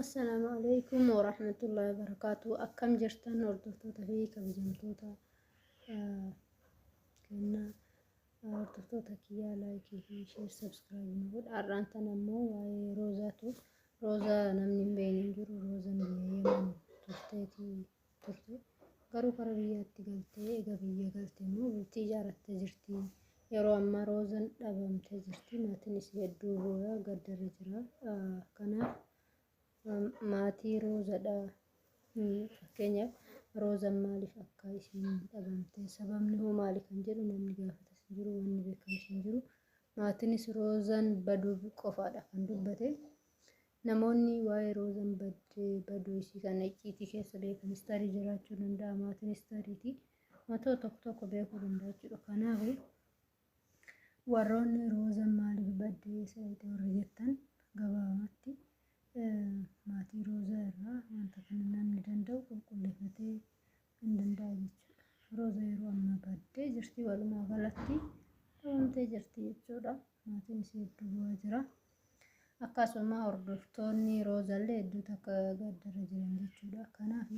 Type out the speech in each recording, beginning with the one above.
Assalaamu alaikum warahmatullahi wabarakatuh. Akkam jirtan hordoftoota fi kabajamtoota ah, kenna ah, hordoftoota kiyyaa laayikii fi sheer sabskiraayib nu godha. Har'aan tan ammoo waa'ee roozaatu roozaa namni hin beekne hin jiru roozaan biyya yeman turteeti turte. Garuu kara biyyaatti galtee ega biyya galte immoo bultii ijaarattee jirti. Yeroo ammaa Roozan dhabamtee jirti. Maatiin isii hedduu booya gaddarra jira. Kanaaf maatii Roozadha. Fakkeenyaaf Roozan maaliif akka isiin dhabamte sababni hoo maali kan jedhu namni gaafatas hin jiru wanni beekamus hin jiru. Maatiinis Roozan baduu qofaadha kan dubbate. Namoonni waa'ee Roozan badde baduu isii kana icciitii keessa beekanis tarii jiraachuu danda'a. Maatiinis tariitii wantoota tokko tokko beekuu danda'a jechuudha. Kanaaf warroonni Roozan maaliif badde eessa dhaqxe warri jettan gabaabamatti maatii Roozaa irraa wanta kana namni danda'u qulqulleeffatee hin danda'a jechuudha. Rooza yeroo ammaa baaddee jirti walumaa galatti dhabamtee jirti jechuudha. Maatiin isii hedduu bu'aa jira. Akkasuma hordoftoonni roozallee hedduu takka gaddarra jiran jechuudha. Kanaaf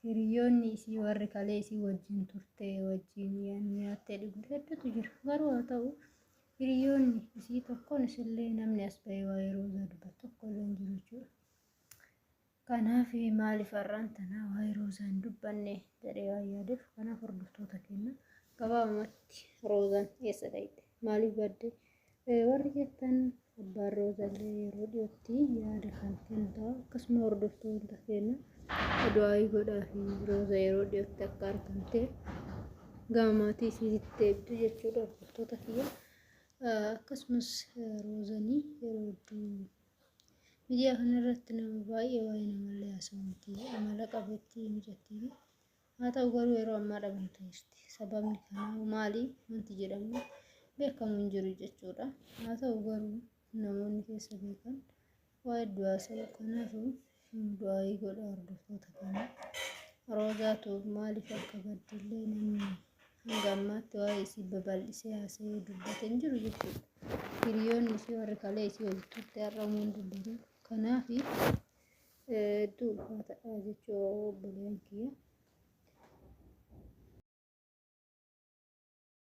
hiriyoonni isii warri kalee isii wajjin turte wajjin nyaattee dhugde hedduutu jira. Garuu haa ta'u hiriyoonni isii tokkoon isillee namni as ba'ee waa'ee roozaa dubbatu tokko illee hin jiru jechuudha. Kanaaf maaliif har'aan tana waa'ee roozaa hin dubbanne jedhee waan yaadeef kanaaf hordoftoota keenya gabaabumatti roozaan eessa dhayxe maaliif badde warri jettan abbaan roozallee yeroo dhiyootti yaada kan kennu ta'a akkasuma hordoftoota keenya du'aayii godhaa fi rooza yeroo dhiyootti akka argamte gama maatii isiitti deebdu jechuudha hordoftoota kiyya akkasumas roozanii yeroo hedduu Miidiyaa kana irratti nama baay'ee waa'ee namallee haasa'u miti. Amala qabeettii mijattiin. Haa ta'u garuu yeroo ammaa dhabamtee jirti. Sababni kanaa maali? Wanti jedhamu beekamu hin jiru jechuudha. Haa ta'u garuu namoonni keessa beekan waa hedduu haasa'u. Kanaafuu Du'aayii godha hordoftoota kana. Roozaa Tuub maaliif akka baddillee namni hanga ammaatti waa'ee isii babal'isee haasa'ee dubbate hin jiru jechuudha. Hiriyoonni isii warri kalee isii walitti turte har'a umuun dubbatu. Kanaaf hedduu ulfaataadha jechuu obboleeyyan kiyya.